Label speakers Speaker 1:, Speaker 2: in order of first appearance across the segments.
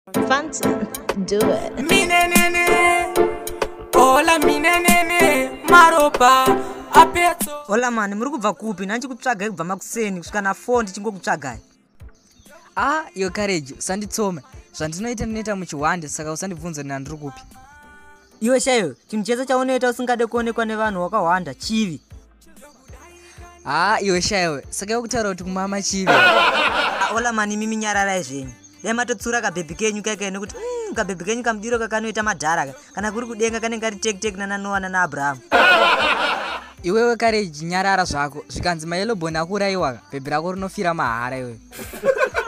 Speaker 1: Phantom, do it. Minenene,
Speaker 2: hola minenene, maropa apetso. Hola mani, muri kubva
Speaker 3: kupi? Nani chikutsvagai kubva makuseni kusvika na 4 ndichingokutsvagai.
Speaker 4: Ah, your courage, usanditsome. Zvandinoita ndinoita muchihwande saka usandibvunze nina ndiri kupi. Iwe
Speaker 3: shaiwe, chinhu chese chaunoita usingade kuonekwa nevanhu wakahwanda chivi. haa ah,
Speaker 4: iwe shaiwe saka yokutaura kuti kumama chivi ah, ola
Speaker 3: mani imi minyararai zvenyu dai matotsura kabhebhi kenyu kaika nekuti mm, kabhebhi kenyu kamudiro kakanoita madhara kana kuri kudenga kanenge kari tektek nananoa nanaabrahamu
Speaker 4: iwewe kare nyarara zvako zvikanzi mayeloboni akuurayiwaka bhebhi rako rinofira mahara iwewe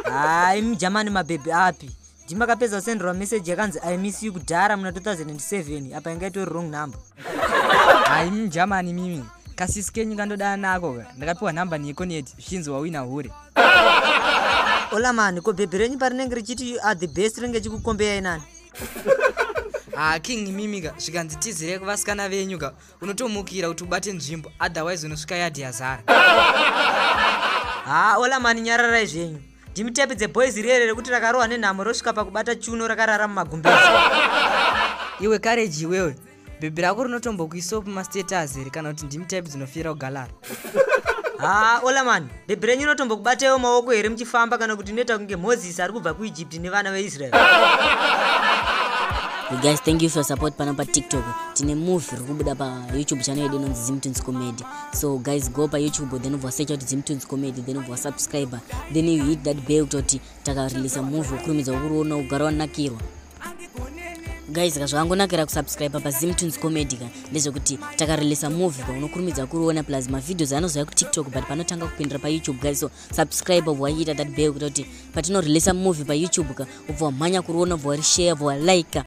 Speaker 4: haa
Speaker 3: imi jamani mabhebhi api ndimakapedza kusenderwa message yakanzi i miss you kudhara muna 2007 apa inga itori wrong number hayi
Speaker 4: mjamani mimi kasisi kenyu kandodana nako ka ndakapiwa number neekoneti zvichinzi wawina hure
Speaker 3: olamani ko bhebhi renyu parinenge richiti you are the best rinenge chikukombeyai nani ha ah, king
Speaker 4: mimi ka zvikanzi tizire kuvasikana venyu ka unotomukira kuti ubate nzvimbo otherwise unosvika yadhi yazara ha
Speaker 3: ah, olamani nyararai zvenyu Dimitepi dze boys riere rekuti rakarohwa nenhamo rosvika pakubata chuno rakarara mumagumbezi.
Speaker 4: Iwe courage iwewe. Bhebhi rako rinotombokuisawo pamastatus here kana kuti ndimi type dzinofira kugalara. Haa
Speaker 3: ola mani, bhebhi renyu rinotombokubataiwo maoko here muchifamba kana kuti inoita kunge Moses ari kubva kuEgypt nevana veIsrael.
Speaker 5: You guys, thank you for your support pano pa TikTok. Tine movie rikubuda pa YouTube channel yedu inonzi Zimtins Comedy. so guys go pa youtube then ubva wasecha kuti dzimtunes comedy then ubva wasubscriber then you hit that bell kuita kuti takareleasa movie wokurumidza wokuriona ugara wanakirwa guys ka zvakangonakira kusubscribe pa zimtunes comedy ka ndezvekuti takareleasa movie paunokurumidza kuriona plus mavideos anozouya kutiktok but panotanga kupindira pa youtube guys so subscribe ubva waita that bell kuita kuti patinoreleasa movie pa youtube ka ubva wamhanya kuriona ubva warishare ubva walike